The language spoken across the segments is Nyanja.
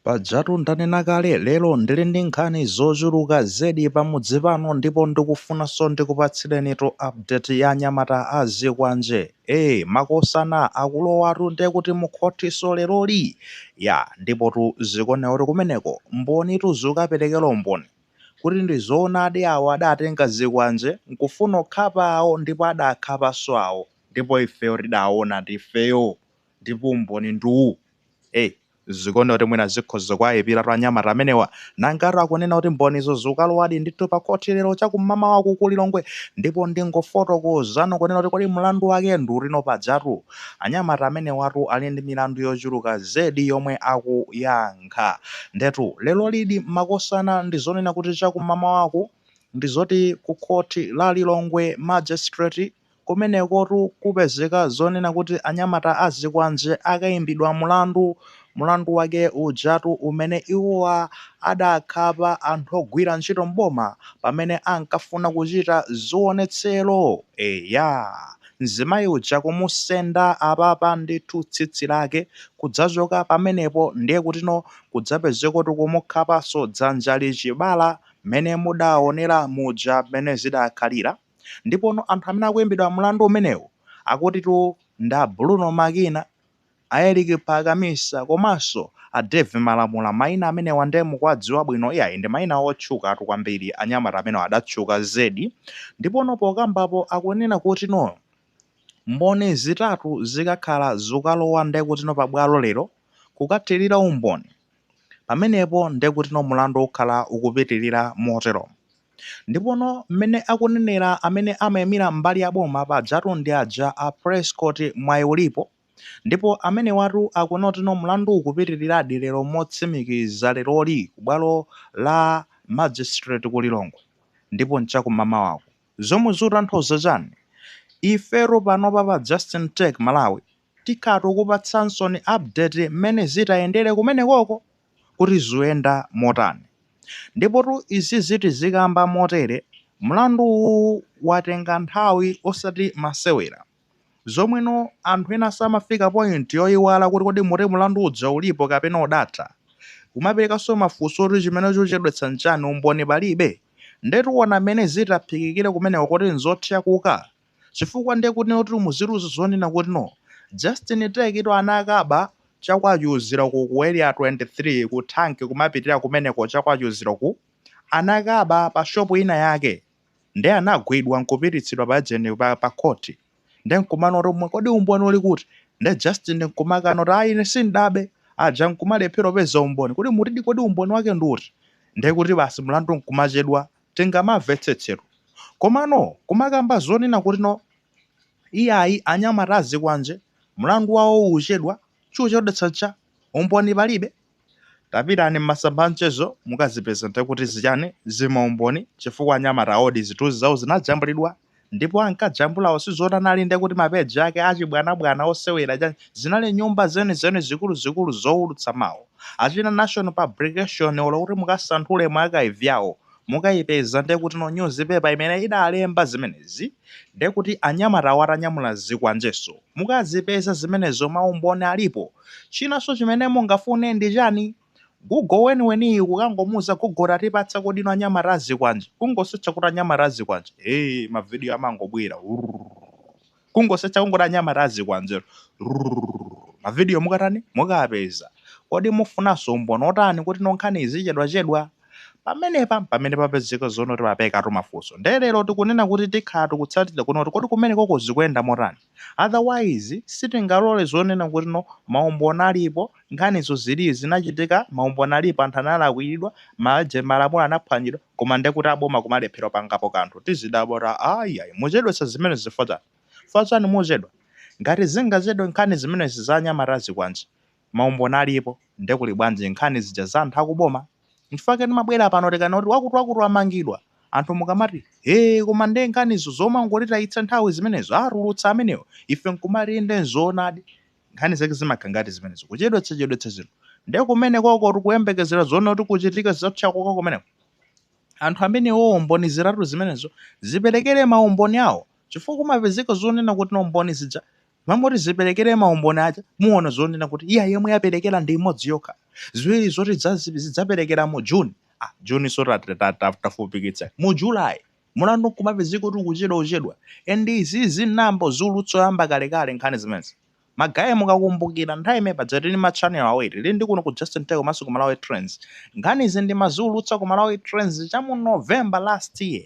Pajatu ndanena kale, lero ndili ndi nkhani zochuluka zedi pamudzi pano ndipo ndikufunanso ndikupatsirenitu update ya anyamata a zikwanje. Ee, makosana akulowatu nde kuti mukhothinso leroli? Yaa, ndipotu zikuoneka kuti kumeneko mbonitu zikukaperekera umboni kuti ndi zoonadi awo adatenga zikwanje n'kufuna kukhapa awo ndipo adakhapanso awo ndipo ifeyo tidaona ndife ifeyo. Ndipo umboni ndi uwu. Ei, zikuoneka kuti mwina zikhoza kuwayipiratu anyamata amenewa. Nangatu akunena kuti mbonizo zikukalowadi ndithu pa khoti lero cha kummamawaku ku Lilongwe. Ndipo ndingofotokozano kunena kuti kodi mlandu wake ndi utino? Pajatu anyamata amenewatu ali ndi milandu yochuluka zedi yomwe akuyankha. Ndiyetu lerolidi makosana ndi zonena kuti cha kummamawaku ndi zoti ku khoti la Lilongwe Magistrate. Kumenekotu kupezeka zonena kuti anyamata a zikwanje akaimbidwa mlandu, mlandu wake ujatu umene iwowa adakhapa anthu ogwira ntchito m'boma pamene ankafuna kuchita zionetsero! Eya, mzimayi uja kumusenda apapa ndithu tsitsi lake kudzachoka pamenepo ndiye kutino kudzapezekotu kumukhapanso dzanjali chibala mmene mudaonera muja mmene zidakhalira. Ndipono anthu amene akuimbidwa mlandu umenewu akutitu ndi a Bruno Makina, a Eric Phakamisa komanso a Dave Malamula. Mayina amenewa ndiye mukuwadziwa bwino. Iyayi ndi mayina otchukatu kwambiri. Anyamata amenewa adatchuka zedi. Ndipono pokambapo akunena kutino mboni zitatu zikakhala zukalowa ndiye kutino pabwalo lero kukathirira umboni, pamenepo ndiye kutino mlandu ukhala ukupitirira moteromo. Ndipono mmene akunenera amene amaimira mbali ya boma pajatu ndi aja a Prescott Mwaiulipo ndipo amenewatu akunena kutino mlandu ukupitiriradi lero motsimikiza leroli ku bwalo la Magistrate ku Lilongwe ndipo n'cha kummamawaku. Zomwe zikutanthauza chani? Ifetu panopa pa Justin Take Malawi. Tikhala tikukupatsaninso update mmene zitayendele kumenekoko kuti zuyenda motani. Ndipotu izizi tizikamba motele, mlandu uwuwu watenga nthawi osati masewera. Zomweno anthu enaso amafika point yoyiwala kuti kodi moti mlandu uja ulipo kapena udatha. Kumapelekaso mafunso oti chimene chikuchedwetsa nchani umboni palibe? Nde tiona mmene zitaphikikile kumeneko kuti nzothyakuka? chifukwa nde kuti no timuziwa zonena kuti no Justin take it ana akaba cha kwa Chiuziro ku ku area 23 ku tank kumapitirira kumeneko cha kwa Chiuziro ku anakaba pa shop ina yake nde anagwidwa nkupititsidwa pa agent pa, pa court nde nkumanena kuti mwe- kodi umboni uli kuti nde Justin nkumakana kuti ayi ine sindabe aja nkumalephera kupeza umboni kuti mutidi kodi umboni wake ndi uti nde kuti basi mlandu nkumachedwa Tingamamvetsetse. Komano kumakamba zonena kuti no iyayi anyamata azikwanje, mlandu wawo uchedwa, chochedwetsa ncha, umboni palibe? Tapitani mmasamba a mchezo mukazipeze nde kuti zichani, zimaumboni, chifukwa anyamata awo di zithunzi zawo zinajambulidwa. ndipo ankajambulawo sizoti anali nde kuti ma page ake achibwanabwana osewera chani, zinali nyumba zenizeni zikuluzikulu zowulutsa mawu, achina Nation Publication olo kuti mukasanthule mu archive yawo mukayipeza nde kutino news paper imene idalemba zimenezi nde kuti anyamatawo atanyamula zikwanjeso mukazipeza zimenezo maumboni alipo, chinanso chimene mungafune ndi chani? Gugo weniweniyi kukangomuuza gugo tatipatsako inu anyamata azikwanje. Kungosetcha kuti anyamata azikwanje. Hey, mavidiyo amangobwera. Kungosetcha kungoti anyamata azikwanje. Mavidiyo mukatani? Mukapeza. Kodi mufunanso umboni otani kuti no nkhani izichedwachedwa? Pamenepa pamene papezeka zonoti pabukatu mafunso. Nde lero tikunena kuti tikhala tikutsatira kuti kodi kumenekoko zikuyenda motani? otherwise sitingalole zonena kuti no maumboni alipo nkhanizo zili zinachitika maumboni alipo anthu analakwiridwa ma malamulo anaphwanyidwa koma ndekuti aboma kumalephera kupangapo kanthu tizidabwa kuti aaiaai muchedwetsa zimenezi chifukwa chani? chifukwa chani muchedwa? ngati zingachedwe nkhani zimenezi za anyamata azikwanje maumboni alipo nde kuli bwanji nkhani zija za anthu akuboma? nchifukwa chake timabwera pano tikanena kuti wakuti wakuti wamangidwa anthu mukamati hee koma nde nkhanizo zomangotitayitsa nthawi zimenezo atulutsa amenewo ife nkumati inde nzoonadi nkhani zake zimakhala ngati zimenezo kuchedwetsa chedwetsa zinthu nde kumenekokotu kuyembekezera zonena kuti kuchitika zothyakuka kumeneko anthu amenewowo mboni zitatu zimenezo ziperekere maumboni awo chifukwa kumapezeka zonena kuti no mboni zija Mwangoti zipelekere maumboni aja muona zonena kuti iya yomwe yapelekera ndi imodzi yokha. Ziwiri zoti zidzapelekera mu June, ah June so tafupikitsani. Mu July mulandu nkumapezeka kuti ukuchedwa uchedwa and izizi nayamba kuziulutsa oyamba kalekale nkhani zimenezi. Ma guys mukakumbukira nthawi imene paja tili ndi ma channel awiri, tili ndi kuno ku Just Nthawi komanso ku Malawi Trends. Nkhanizi ndimaziulutsa ku Malawi Trends cha mu November last year.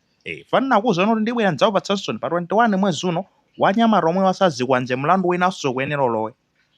Eh, paja ndinakuuzani kuti ndibwera ndidzakupatsaninsoni pa 21 mwezi uno anyamata omwe azazikwanje mlandu winanso ukuyenera ulowe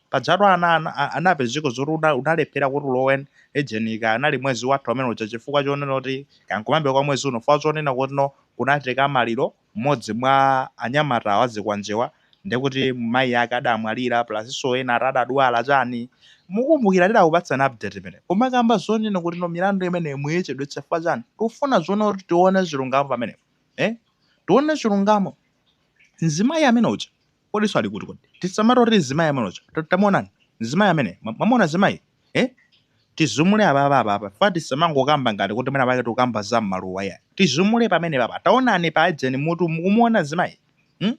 pajatu ana ana- a- anapezeka zoti una- unalephera kuti ulowe ejenika anali mwezi watha umene uja chifukwa chonena kuti ankaukambira kwa mwezi uno fukwa chonena kuti no kunachitika maliro mmodzi mwa anyamata wazikwanjewa ndi kuti mayi ake adamwalira plusnso ena ati adadwala chani mukukumbukira tidakupatsani update imeneyo kumakamba zonena kuti no milandu imeneyo muyichedwetsa chifukwa chani tikufuna zoona kuti tione chilungamo pamenepo ee tione chilungamo mzimayi amene uja kodinso ali kuti kodi tisamangoti kuti mzimayi amene uja tamuonani mzimayi amene mwamuona mzimayi eh tizumule apapa apapa fukwa tisamangokamba ngati kuti mwina pake tikukamba za mmaluwa iyayi tizumule pamene papa taonani pa ujeni mutu mukumuona mzimayi hmm?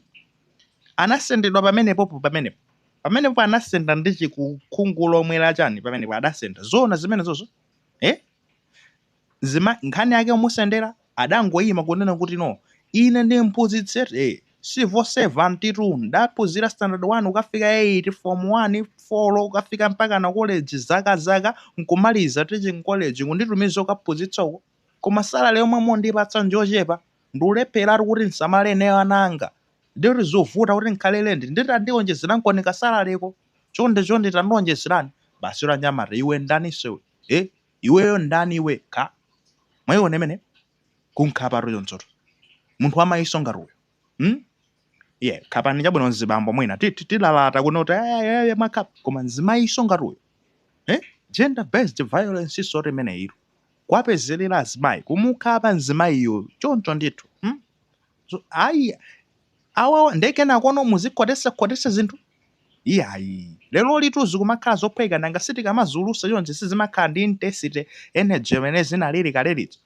anasendedwa pamenepopo pamenepo pamenepo anasenda ndi chikukhungu chomwe chani pamenepo adasenda zoona zimenezozo eh? Mzimayi nkhani yake kumusendera adangoima kunena kuti no ine ndi mphunzitsi eti civil servantitu ndaphunzira standard 1 kukafika 8 form 1 four kukafika mpakana college zaka zaka n'kumaliza teaching college kunditumiza kukaphunzitsa uko koma salary yomwe mukundipatsa njochepa ndikulepheratu kuti ndisamale ineyo ana anga ndiye kuti zovuta kuti ndikhale pa lendi ndiye tandionjezerankoni kasalareko chonde chonde tandionjezerani basi yoti anyamata iwe ndaninso iwe eh Iweyo ndani iwe kha? Mwaiona imeneyo? Kunkhapatu chonchotu. Munthu wamayinso ngati uyo. Hmm? Yeah, khapani chabwino mzibambo mwina. Ti- ti- Tilalata kunoko kuti "Aya, aya, aya, mwakhapa. Koma mzimayinso ngati uyo. Eh? Gender based violence nsotu imeneyitu. Kuwapezelera azimayi. Kumukhapa mzimayiyo choncho ndithu. Hmm? So, ayi awawa nde kenakono muzikhotetsa khotetsa zinthu iyayi lerolitu zikumakhala zophweka nanga sitikamaziulusa chonchi sizimakhala ndi intensity energy imene zinalili kale lija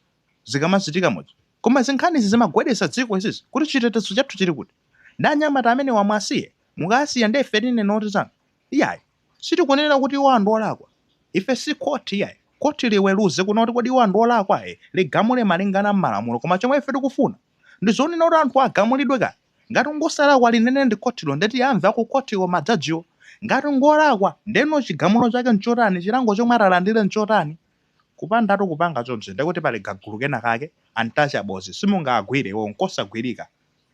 zikamachitika muja koma zinkhanizi zimagwedeza dziko izizi kuti chitetezo chathu chili kuti ndi anyamata amene awa muwasiye mukawasiya nde ife tinene kuti chani Iyayi. Sitikunena kuti iwowa ndi olakwa. Ife si khoti iyayi. Khoti liweluze kunena kuti kodi iwowa ndi olakwa ayi, ligamule malingana ndi malamulo. Koma chomwe ife tikufuna ndi zonena kuti anthuwa agamulidwe kaya. Ngati ngosalakwa linene ndi khotilo nde tiyamve akukhotiko, ma jajiwo. Ngati ngolakwa, ndeno chigamulo chake nchotani, chilango chomwe atalandile nchotani. Kupandatu kupanga chonchi ndekuti pali kagulu kena kake, untouchables, simungaagwile iwowo, nkosagwilika.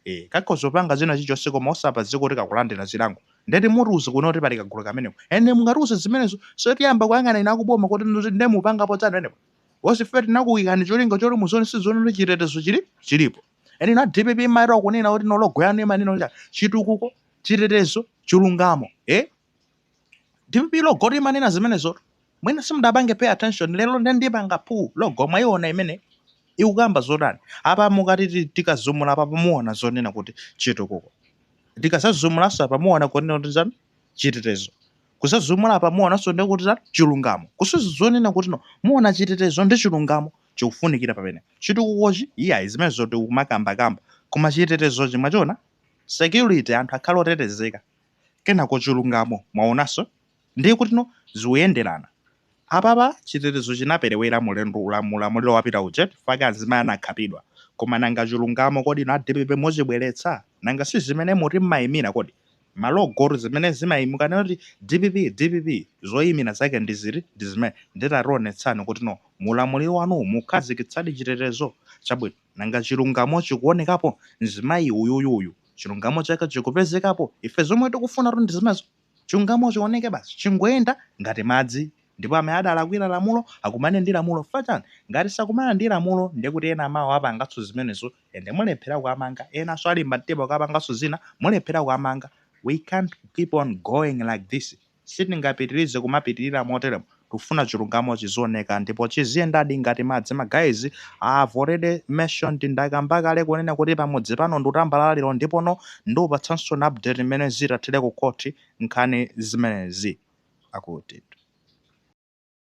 ee kakhoza kupanga china chilichonse koma osapezeka kuti kakulandila chilango nde ndi mutiuze kunena kuti pali kagulu kameneko and nde mukatiuza zimenezonso tiyamba kuyang'ana inu akuboma kuti inutu nde mupangapo chani pamenepo because ife tinakuikani cholinga choti muzionetsetsa kuti chitetezo chilipo and inu a dpp mumachita kunena kuti no logo yanu imanena kuti chani chitukuko chitetezo chilungamo eh dpp logo limanena zimenezo mwina simudapange pay attention lero nde ndipanga pull logo mwayiona imene ikukamba zotani apa mukati tikazumula apa pamuona zonena kuti chitukuko tikadzazumulanso apa muona zonena kuti zanu chitetezo tikadzazumula apa muonanso ndi kuti zanu chilungamo kusonyeza kunena kutino muona chitetezo ndi chilungamo chikufunikira pamene chitukukochi iyayi zimenezo tikumakambakamba koma chitetezochi mwachiona, security anthu akhale otetezeka Kenako chilungamo, mwaonanso, ndiye kutino zikuyenderana. Apapa chitetezo chinaperewera mu ulamuliro wapita uja chifukwa azimayi anakhapidwa. Koma nanga chilungamo kodi inu a dpp muchibweretsa? Nanga si zimene muti mumaimira kodi? Ma logotu zimene zimaimira mukanena kuti dpp, dpp, zoimira zake ndi ziti? Ndi zimene. Ndiye tationetsani kutino mu ulamuliro wanuwu mukhazikitsadi chitetezo chabwino. Nanga chilungamo chikuonekapo? Mzimayi uyuyu uyu chilungamo chake chikupezekapo? Ife zomwe tikufunatu ndi zimenezo. Chilungamo chioneke basi. Chingoyenda ngati madzi. Ndipo amene adalakwira lamulo akumane ndi lamulo. Chifukwa chiyani? Ngati sakumana ndi lamulo ndiye kuti ena mawa apanganso zimenezo and mulephera kuwamanga. Enanso alimba mtima kukapanganso zina, mulephera kuwamanga. We can't keep on going like this. Sitingapitilize kumapitilira moteremo tikufuna chilungamo chizioneka ndipo chiziyendadi ngati madzi ma guys I have already mentioned ndakamba kale kunena kuti pamudzi pano nditambalala lero ndipo ndikupatsanso an update mmene zitathere ku court nkhani zimenezi akuti.